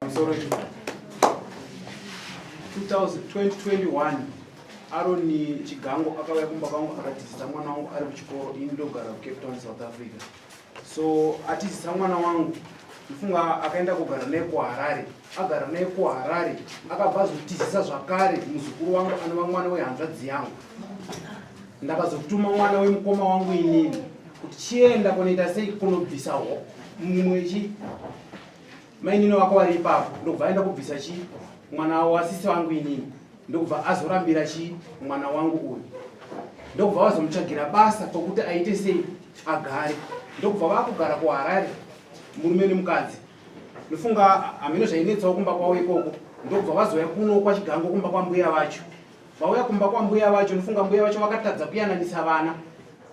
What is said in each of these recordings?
Sorry. 2021 aroni chigango akauya kumba kwangu akatizisa mwana wangu ari kuchikoro ini ndogara kucape town south africa so atizisa mwana wangu ifunga akaenda kugara naye kuharare agara naye kuharare akabva azotizisa zvakare muzukuru wangu anova mwana wehanzvadzi yangu ndakazotuma mwana wemukoma wangu inini kuti chienda kunoita sei kunobvisa mumwe chi Mainini wako vari ipapo ndokubva aenda kubvisa chi mwana wasisi wangu inini ndokubva azorambira chi mwana wangu uyu ndokubva vazomutsvagira basa pokuti aite sei agare ndokubva vakugara kuharare murume nemukadzi ndofunga hameno zvainetsawo kumba kwavo ikoko ndokubva vazouya kuno kwachigango kumba kwambuya vacho vauya kumba kwambuya vacho ndofunga mbuya vacho vakatadza kuyananisa vana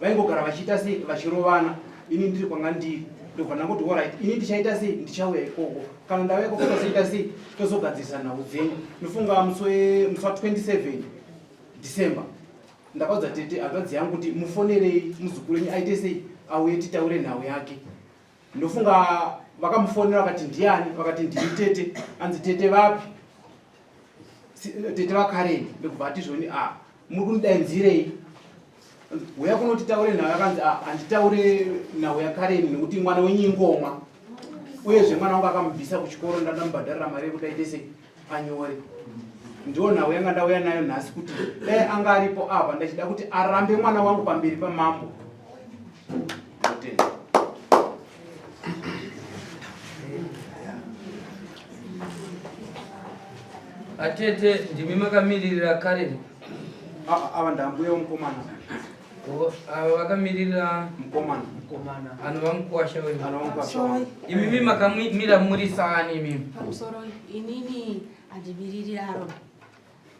vaingogara vachiita sei vachirovana ini ndiri kwanga ndiri ndobva ndangoti orit ini ndichaita sei ndichauya ikoko kana ndauya ikoko tozoita sei tozogadzirisa nhau dzenyu ndofunga musi wa 27 december ndakaudza tete hanzvadzi yangu kuti mufonerei muzukuru wenyu aite sei auye titaure nhau yake ndofunga vakamufonera vakati ndiani vakati ndiri tete anzi tete vapi tete vakareni ndokubva ati zvoni a ah, muri kundidainzirei huya kunoti taure nhau yakanzi ah, handitaure nhau yakareni nekuti mwana wenyingomwa uyezve mwana wangu akamubvisa kuchikoro ndandamubhadharira mari yekuti aite sei panyori ndiwo nhau yanga ndauya nayo nhasi kuti dai anga aripo apa ndachida kuti arambe mwana wangu pamberi pamambo atete ndimi makamiririra karen ava ndambuya mukomana Ava vakamirira mkomana mkomana anova mukwasha wedu anova mukwasha wedu imimi makamira muri saani imimi pamusoro inini handimiriri aro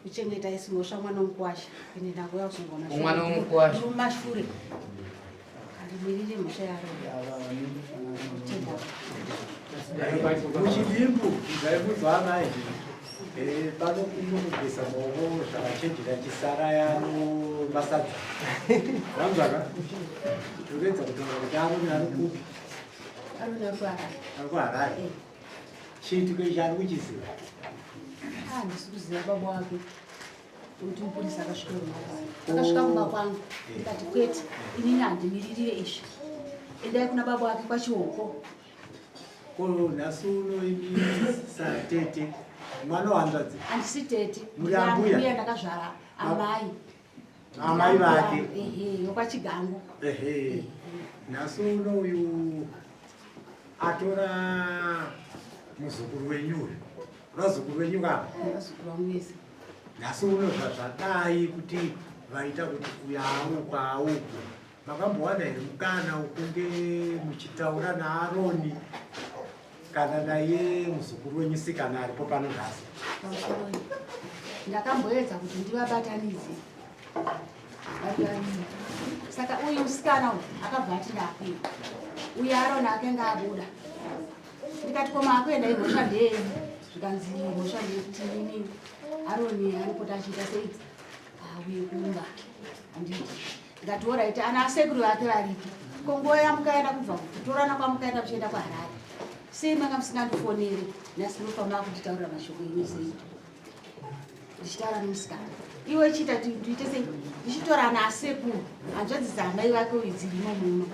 kuchengeta isi mhosva mwana womukwasha ende ndangouya kuzongona mwana womukwasha mumashure handimiriri mhosva yaro muchidimbu ndaibudzwa amai Eh, pano kunokugeza maoko zvakachenjera chisara yano masadza vanzwaka tokuedza kutaura kuti aroni ari kupi ari kuharare chiitiko ichi ari kuchiziva handisi ah, kuziva baba wake kuti mupurisa akasvika akasvika kumba kwangu ndikati kwete inini handimiririye izvi endai kuna baba wake kwachihoko Ko nhasi uno ini satete mwana wanzvadzi. Handisi tete. Muri ambuya. Mbuya ndakazvara amai. Amai vake. Ehe, yokwachigango. Ehe. Nhasi uno uyu atora muzukuru wenyu uyu. Vazukuru venyu kava. Vazukuru vangu vese. Nhasi uno zvazvadai kuti vaita kuti uyawo kwawo. Makambowana here mukana wokunge muchitaura naAroni kana naye muzukuru wenyu sikana aripo pano nhasi? Ndakamboedza kuti ndivabatanidze saka uyu musikana uyu akabva ati ndakuya uye arona akanga abuda ndikati koma akuenda imhosva ndeyenyu zvikanzi mhosva ndeyekuti nini aroni anopota achiita seidzi auye kumba anditi ndikati orit ana asekuru vake varipi ko nguva yamukaenda kubva kutorana kwamukaenda kuchienda kuharare sei manga musingandifoneri nhasi ndinofamba kunditaurira mashoko ino sei ndichitaura nemusikana iwe chiita tiite sei ndichitorana asekuru hanzvadzi dzaamai vake uyu dzirimo muno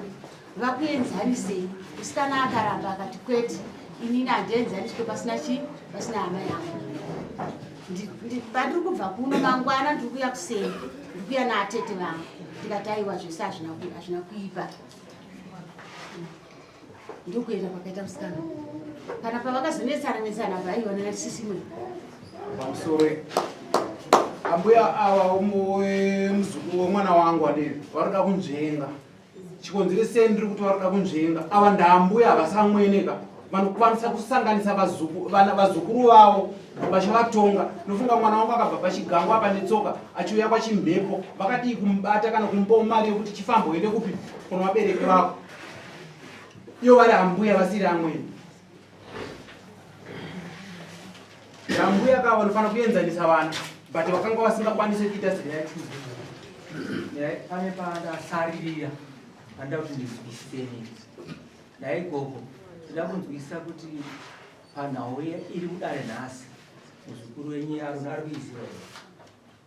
vakuenzanisei musikana akaramba akati kwete inini handienzaniswe pasina chii pasina hama yangu pandiri kubva kuno mangwana ndiri kuya kuseni ndiri kuya naatete vangu ndikati aiwa zvese hazvina kuipa ndokuenda kwakaita musikana kana pavakazonetsana netsana vaionana sisimwe pamusore ambuya ava muzukuru wemwana wangu adii varoda kunzvenga chikonzeresei ndiri kuti varoda kunzvenga ava ndaambuya havasamweneka vanokwanisa kusanganisa vazukuru vavo vachavatonga nofunga mwana wangu akabva pachigango apa netsoka achiuya kwachimhepo vakadii kumubata kana kumupawo mari yekuti chifambo ende kupi kuno vabereki vavo iyo vari ambuya vasiri amweni Nambuya ka vanofanira kuenzanisa vana but vakanga vasingakwanisi kuita zera yaTuesday. Ndai pane pandasarira panda kuti ndizwisiseni. Ndai gogo ndida kunzwisisa kuti panhau iri kudare nhasi muzukuru wenyu Aruna ari kuiziva here?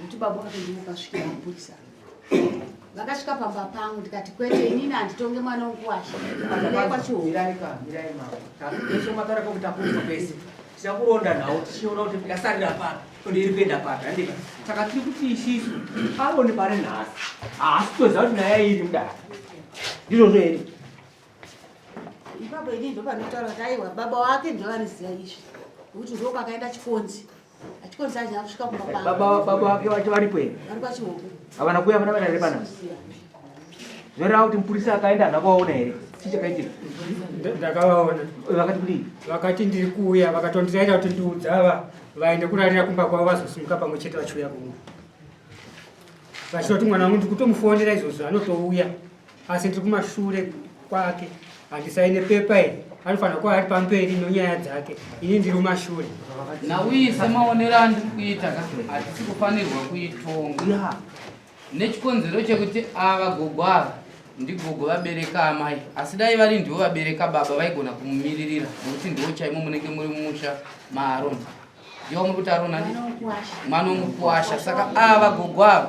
Kuti baba vakandimo kasvikira mapurisa. Vakasvika pamba pangu ndikati kwete inini handitonge mwana wokuwasha. Ndai kwacho. Mirai ka, mirai mama. Takuisha matara kwa kutakuza pese. Tichakuronda nawo tichiona kuti ndasarira papi. Kuti iri kuenda papi. Handika. Saka tiri kuti isisu aone pari nhasi. Haasi kutoziva kuti nyaya iri mudaka. Ndizvozvo here? Ipapo ini ndopanotaura kuti aiwa baba wake ndovaniziva izvi. Kuti ndokwakaenda chikonzi. Achikonza aje akusvika kumba kwangu. Baba baba wake wacho varipo here? Vari kwachihoku. Havana kuya vana vanare pana. Zvoreva kuti mupurisa akaenda hana kuvaona here? Chii chakaitika? Ndakavaona. Vakati kudii? Vakati ndiri kuuya vakatondiraira kuti ndiudza ava vaende kurarira kumba kwavo vazosimuka pamwe chete vachiuya kumwe. Vachitoti mwana wangu ndiri kutomufonera izvozvo anotouya. asi ndiri kumashure kwake handisaine pepa iri anofanira kuva ari pamberi nonyaya dzake ini ndiri kumashure nauyi semaonero andiri kuita ka hatisi kufanirwa kuitonga nechikonzero chekuti ava gogo ava ndigogo vabereka amai asi dai vari ndivo vabereka baba vaigona kumumiririra nokuti ndivo chaimo munenge muri mumusha maaron Yo muri kutaura nani? Mwana womukuwasha. Saka ava gogo ava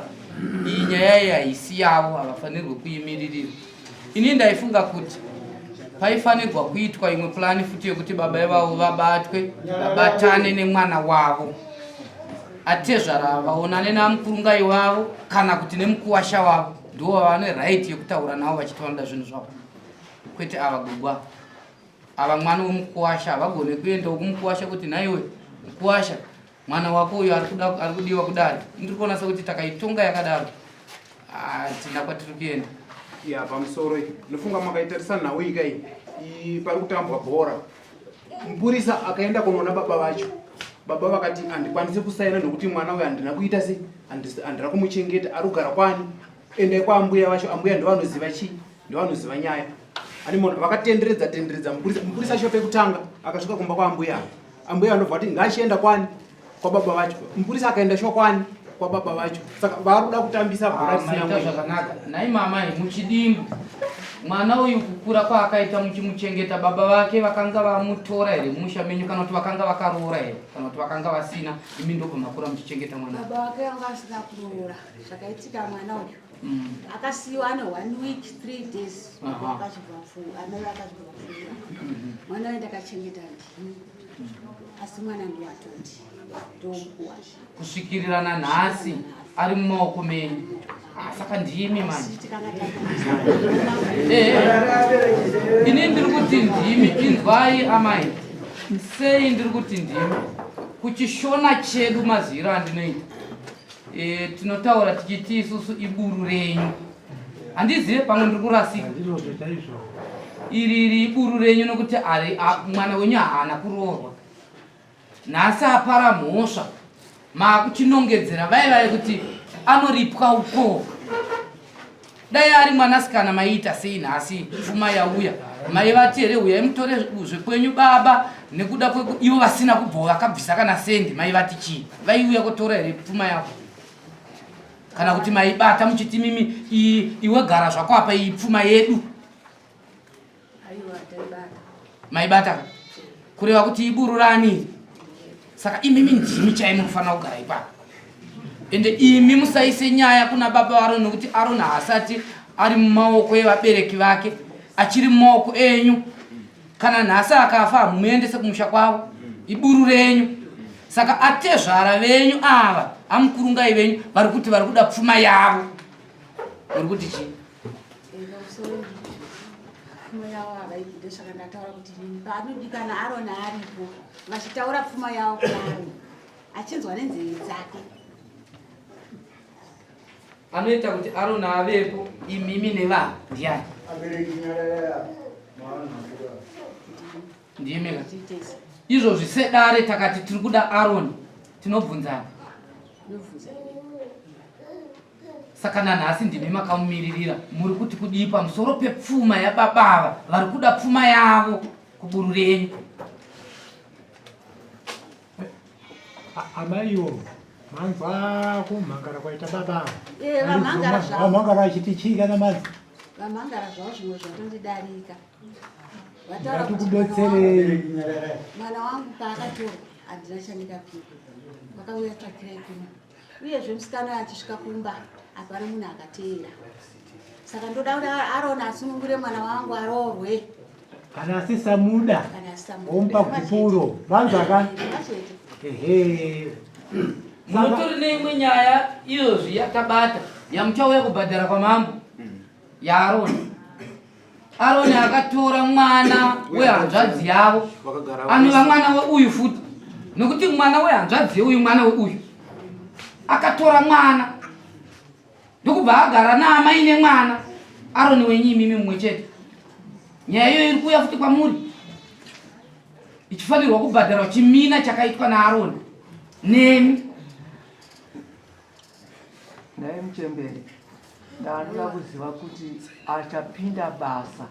iyi nyaya iyi haisi yavo, havafanirwe kuimiririra. Ini ndaifunga kuti paifanirwa kuitwa imwe pulani futi yekuti baba ivavo vabatwe vabatane nemwana wavo atezvara ava vaonane namukurunga ivavo kana kuti nemukuwasha wavo ndivo vane right yekutaura navo vachiti vanoda zvinhu zvavo kwete ava gogwa ava mwana wemukuwasha havagone kuendawo kumukuwasha kuti nhaiwe mukuwasha mwana wako uyo ari kudiwa kudari ndiri kuona sekuti takaitonga yakadaro hatina ah, kwatiri kuenda ya pamusoro ndofunga makaitarisa nhau ika iyi pari kutambwa bhora mupurisa akaenda kunoona baba vacho baba vakati handikwanisi kusaina nokuti mwana uyo handina kuita sei handira kumuchengeta ari kugara kwani Ende kwa ambuya vacho ambuya ndovanoziva chii ndovanoziva nyaya ani munhu vakatenderedza tenderedza mupurisa mupurisa acho pekutanga akasvika kumba kwa ambuya ambuya vanobva vati ngachienda kwani kwa baba vacho mupurisa akaenda shuwa kwani kwa baba vacho saka vari kuda kutambisa bhora Ah, risina maita mwenye zvakanaka nhai mamai muchidimbu mwana uyu kukura kwaakaita muchimuchengeta baba vake vakanga vamutora here mumusha menyu kana kuti vakanga vakaroora here kana kuti vakanga vasina imi ndopamakura muchichengeta mwana baba vake vanga vasina kuroora zvakaitika mwana uyu mm. akasiyiwa ane one week three days amai vakazvivapfuura mm-hmm. mwana waye ndakachengeta ndii asi mwana ndiwatoti ndomukuwa kusvikirira nanhasi ari mumaoko menyu ah, saka ndimi manje eh, eh. ini ndiri kuti ndimi inzwai amai sei ndiri kuti ndimi kuchishona chedu maziviro andinoita E, tinotaura tichiti isusu iburu renyu. Handizive pamwe ndiri kurasika. Iri iri iburu renyu nokuti ari mwana wenyu haana kuroorwa. Nhasi apara mhosva. Maakuchinongedzera vai vai kuti anoripwa ukoo. dai ari mwanasikana maiita sei nhasi pfuma yauya mai vati here uyai mutore zvekwenyu baba nekuda kweku ivo vasina kubvo vakabvisa kana sendi mai vati chii vaiuya kutora here pfuma yavo kana kuti maibata muchiti mimi iwe gara zvako apa iyi pfuma yedu maibata kureva kuti ibururani saka imimi ndimi chaimi munofanira kugara ipapo ende imi musaise nyaya kuna baba vaaroni nokuti aroni haasati ari mumaoko evabereki vake achiri mumaoko enyu kana nhasi akafa hamuendese kumusha kwavo iburu renyu saka atezvara venyu ava amukurungai venyu vari kuti vari kuda pfuma yavo uri kuti chii pfuma yavo havaibvide saka ndataura kuti nini paanodikana arona aripo vachitaura pfuma yavo kuvanhu achinzwa nenzeve dzake anoita kuti arona avepo imimi nevanhu ndiyani ndimi ka izvozvi sedare takati tiri kuda aroni tinobvunzana saka nanhasi ndimi makamumiririra muri kuti kudii pamusoro pepfuma yababa ava vari kuda pfuma yavo kuburu renyu amaiwo manzwa kumhangara kwaita baba eh, vamhangara vachiti chii kana manzi vamhangara zvavo zvimwe zvatondidarika vatikubetserei mwana wangu paakatorwa handina chandingapiwa vakauya tsvakirai kuma uyezve musikana achisvika kumba apari munhu akateera saka ndoda kuti arona asunungure mwana wangu aroorwe kana asisamuda omupa gupuro vanzaka ehe munotori neimwe nyaya iyozvi yatabata yamuchauya kubhadhara kwamambo yaarona Aroni akatora mwana wehanzvadzi yavo anova mwana weuyu futi nokuti mwana wehanzvadzi yeuyu mwana weuyu akatora mwana ndokubva agara naamai nemwana aroni wenyu imimi mumwe chete nyaya iyoyo iri kuuya futi kwamuri ichifanirwa kubhadharwa chimina chakaitwa naaroni nemi Nhai muchembere, ndanoda kuziva kuti achapinda basa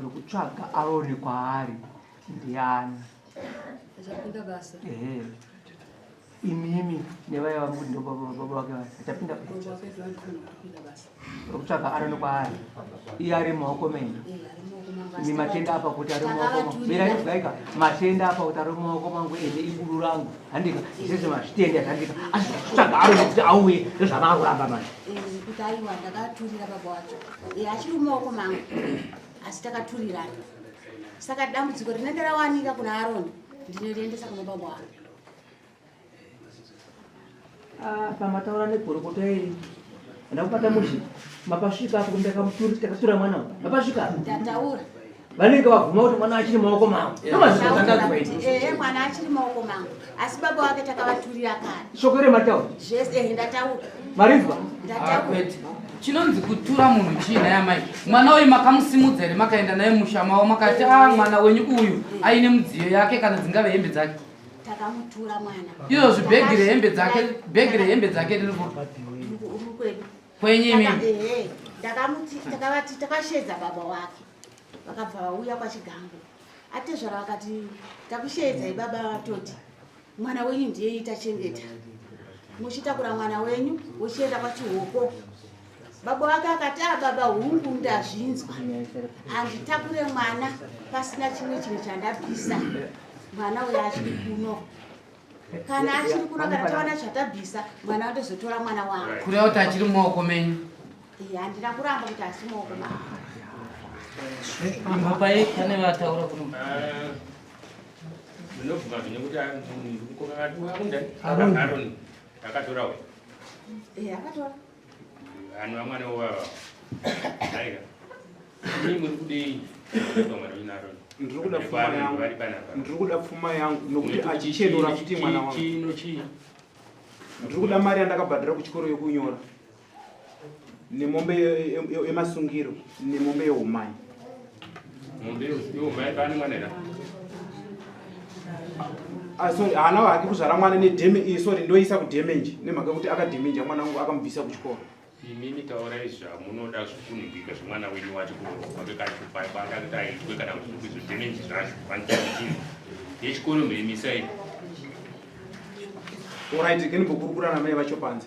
rokutsvaga Aroni kwaari ndiani? Achapinda basa? Ehe. Imimi nevaya vari kuti ndobaba vake vachapinda basa. rokutsvaga aroni kwaari iye ari mumaoko menyu ni matenda apa kuti ari mumaoko beraizwaika matenda apa kuti ari mumaoko mangu ende iguru rangu handika zvese mazvitenda zhandika asi kutsvaga aroni kuti auye ndozvavaa kuramba manje kuti aiwa ndakaturira baba wacho achiri mumaoko mangu asi takaturirana saka dambudziko rinenge rawanika kuna aroni ndinoriendesa kuna baba wangu Ah, pamataura negorokota iri ndakupata mushe mapasvika apo ndakamutura takatura mwana uyu mapasvika apo ndataura vanenge vabvuma kuti mwana achiri maoko mangu eh, mwana achiri maoko mangu asi baba wake takavaturira kare shoko remataura zvese eh, ndataura marinzwa ndataura ah, chinonzi kutura munhu chii naye amai mwana uyu makamusimudza here makaenda naye musha mavo makati a ah, mwana wenyu uyu aine mudziyo yake kana dzingave hembe dzake takamutura mwana iyo zvibhegi rehembe dzake bhegi rehembe dzake riri kwedu kwenyu imi ndakamuti takavati takashedza baba wake vakabva vauya kwachigango atezvara vakati takushedzai baba vatoti mwana wenyu ndiye itachengeta muchitakura mwana wenyu uchienda kwachihoko baba wake akati a ah, baba hungu ndazvinzwa handitakure mwana pasina chimwe chinhu chandabvisa mwana uyo achiri kuno kana achiri kuno kana taona chatabvisa mwana andozotora mwana wangu kureva kuti achiri mumaoko menyu handina kuramba kuti asi mumaoko ma mbapai pane vataura kuno ndinobvuma zvine kuti mukokakati waundani akatora uyo akatora Anwa mwana wao. Aiga. Mimi mkudei. Mwana wina Aaron. Ndiri kuda pfuma yangu. Ndiri kuda pfuma yangu nokuti achichenura kuti mwana wangu. Chino chii? Ndiri kuda mari yandakabhadhara kuchikoro yokunyora. Nemombe yemasungiro, nemombe yeumai. Ah, sorry haana hake kuzvara mwana nedeme iyi sorry ndoisa kudemenje nemhaka yekuti akademenja mwana wangu akamubvisa kuchikoro imimi taurai zvamunoda zvikunhibika zvemwana wenyu wacho kuroaekaaaaitwe kana kuti zvidemenji zvacho vandiaii yechikoro mhirimisai orit kenibokurukurana mai vacho panze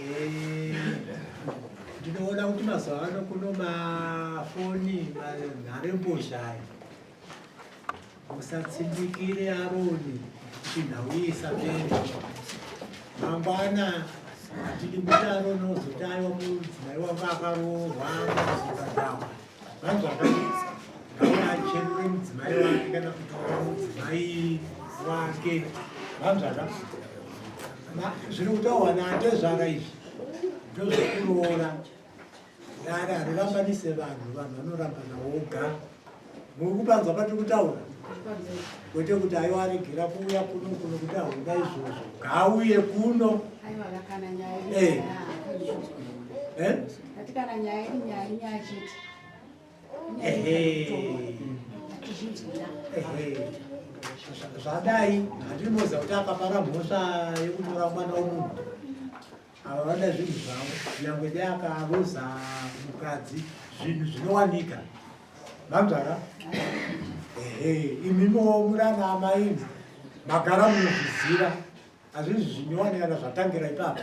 Eh, ndinoona kuti mazuva ano kuno mafoni nharembozha ayo musatsindikire aroni chinhauisa pene mangwana hatidi kuti aroni ozotaiwa mudzimai wangu akaroorwa muzibadhawa Vangu vakanetsa ngaona acherure mudzimai wake kana kutora mudzimai wake vanzvaka zviri kutaurwa naatezvara izvi ndozvekuroora dare harirambanise vanhu vanhu vanorambana woga muri kupanzwa patiri kutaura kwete kuti aiwa aregera kuuya kuno kuno kuti ahunda izvozvo ngaauye kuno eh. Eh? Ati kana nyaya iri nyaya inyaya chete. Zvadai handiri moza kuti akapara mhosva yekutora mwana wemunhu. Ava vada zvinhu zvavo nyangwe dai akaroza mukadzi zvinhu zvinowanika. Vanzvara? Ehe, imimo murana amaini magara munozviziva. Hazvizvi zvinyowanikana zvatangira ipapo.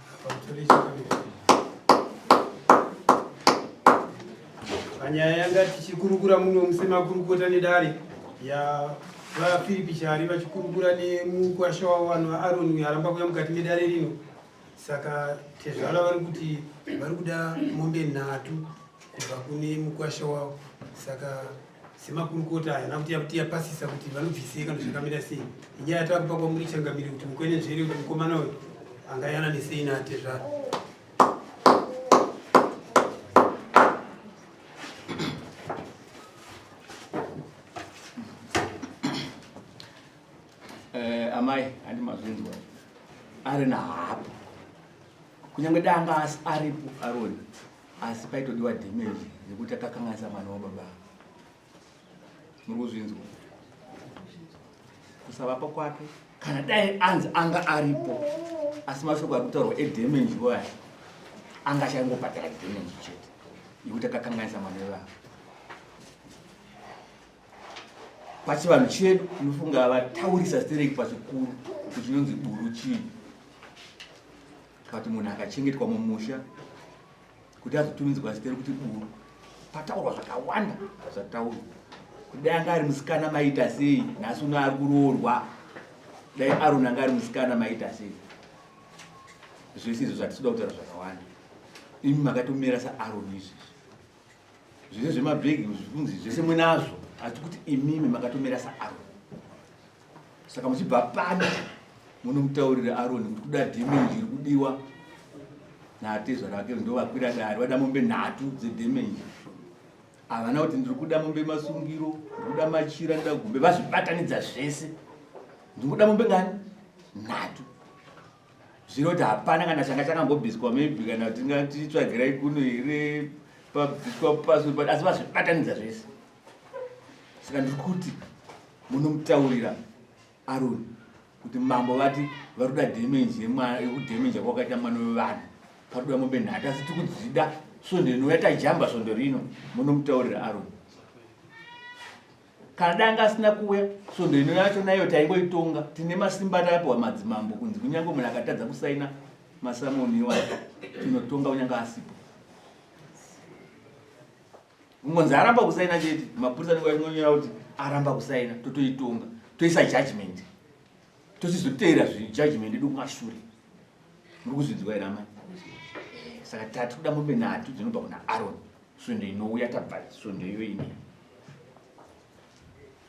panyaya yanga tichikurukura muno musemakurukota nedare yavafiripi chari vachikurukura nemukwasha wavo vanhu vaaroni uyo aramba kuya mukati medare rino saka tezvara vari kuti vari kuda mombe nhatu kubva kune mukwasha wavo saka semakurukota aya nakuti yakuti yapasisa kuti vanobvisei kana zvakamira sei inyaya yatakupa kwamuri changamire kuti mukwenenzvere kuti mukomana uyu anga yananisei naatezvara eh, amai handi mazvinzwa ari nahapa kunyange danga asi aripo aroni asi paitodiwa damage yekuti akakanganisa mwana wababa muri kuzvinzwa kusavapa kwake kana dai anzi anga aripo asi mashoko ari kutaurwa edamage waya anga achangobhadhara damage chete yekuti akakanganisa mwana wevava pachivanhu chedu unofunga vataurisa stereki pachikuru kuchinonzi buru chii Kati munhu akachengetwa mumusha kuti azotumidzwa zita rekuti buru pataurwa zvakawanda zvataurwa kuti dai anga ari musikana maita sei nhasi uno ari kuroorwa dai aroni anga ari musikana maita sei zvese izvo zvatisuda kutaura zvakawanda imi makatomira saaroni izvezvi zvese zvemabhegi zvikunzi zvese munazvo asi kuti imimi makatomira saaroni saka muchibva pano munomutaurira aroni kuti kuda dhemenji iri kudiwa natezvara vake ndo vakwira dare vada mombe nhatu dzedhemenji havana kuti ndiri kuda mombe masungiro ndiri kuda machira ndida gombe vazvibatanidza zvese ndiri kuda mombe ngani nhatu zvino kuti hapana kana changa chakambobviswa maybe kana tingatichitsvagirai kuno here pabviswa pasuri asi vazvibatanidza zvese saka ndiri kuti munomutaurira aroni kuti mambo vati vari kuda dhemenji yekudhemenja kwakaita mwana wevanhu pari kuda mombe nhatu asi tiri kudzida svondo inouya tajamba svondo rino munomutaurira aroni kana danga asina kuuya svondo ino yacho nayo taingoitonga tine masimba atapiwa madzimambo kunzi kunyange munhu akatadza kusaina masamoni iwayo tinotonga kunyange asipo Mungonzi aramba kusaina chete, mapurisa anenge achinonyora kuti aramba kusaina, totoitonga, toisa judgment, tochizoteera judgment yedu kumashure. Muri kuzvinzwa here amai? Saka tati kuda mombe nhatu dzinobva kuna Aron, svondo inouya tabva svondo iyoyi.